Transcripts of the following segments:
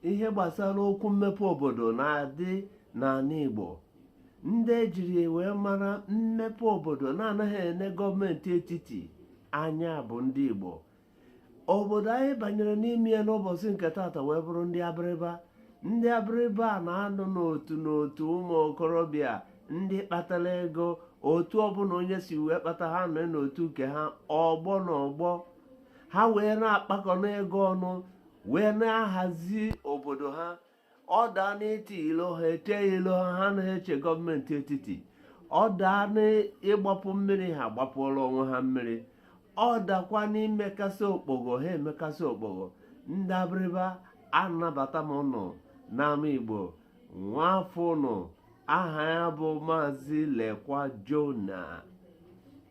ihe gbasara okwu mmepe obodo na-adị n'ala Igbo ndị ejiri wee mara mmepe obodo na-anaghị ene gọọmenti etiti anya bụ ndị Igbo obodo anyị banyere n'ime ya n'ụbọchị nke taata wee bụrụ ndị abịrịba ndị abịrịba na-anọ n'otu n'otu ụmụ okorobịa ndị kpatara ego otu ọbụla onye si wee kpata ha nọ n'otu nke ha ọgbọ na ọgbọ ha wee na-akpakọnụ ego ọnụ wee na-ahazi obodo ha ọ daa n'iti ilo ha etie ilo ha ha anaghị eche gọọmenti etiti ọ daa n'ịgbapụ mmiri ha agbapụrụ onwe ha mmiri ọ dakwa n'imekasị okpogho ha emekasị okpogho ndị abịrịba anabata m ụnụ n'ama igbo nwa afọ ụnụ aha ya bụ maazị lekwa jona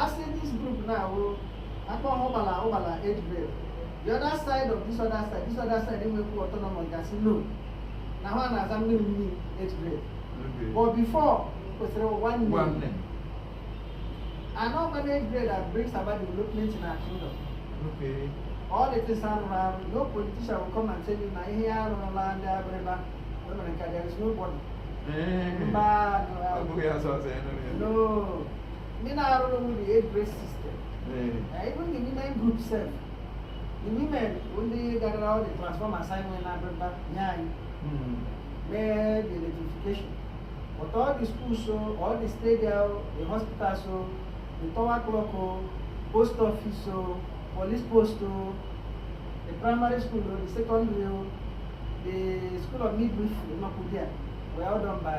Asị this group na-awụ akpa ụgbala ụgbala age grade the other side of this other side this other side enwekwu autonomous gasị no na ha na-aza mmiri mmiri age grade but before kwesịrị ụwa nne and all managed grade that brings about development in our kingdom. Okay. All the things are around. No politician will come and tell you, "My here on the land, everybody." Women, there is nobody. Mba, no. No. ndị na-arụrụ m the age grade system na even the women group self the women bụ ndị gotara all the transformers e nwere n'abịrịba nye anyị mee the electrification both all the schools so all the stadium the hospital so the tower clock o post office o police post o the primary school o the secondary o the school of midwifery nọkwa there were all done by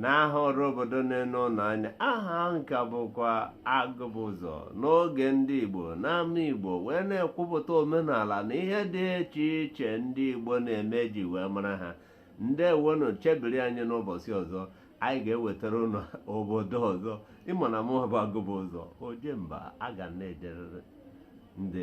n'aha ọrụ obodo na-ene ụnụ anya aha m ka bụkwa agụbụ ụzọ n'oge ndị Igbo n'ama Igbo wee na-ekwupụta omenala na ihe dị iche iche ndị Igbo na-eme e ji wee mara ha ndewonu chebiri anyị n'ụbọchị ọzọ anyị ga-ewetara ụnụ obodo ọzọ ị ma na mụ bụ agụbụ ụzọ ojemba a ga na-ejerịrị ndị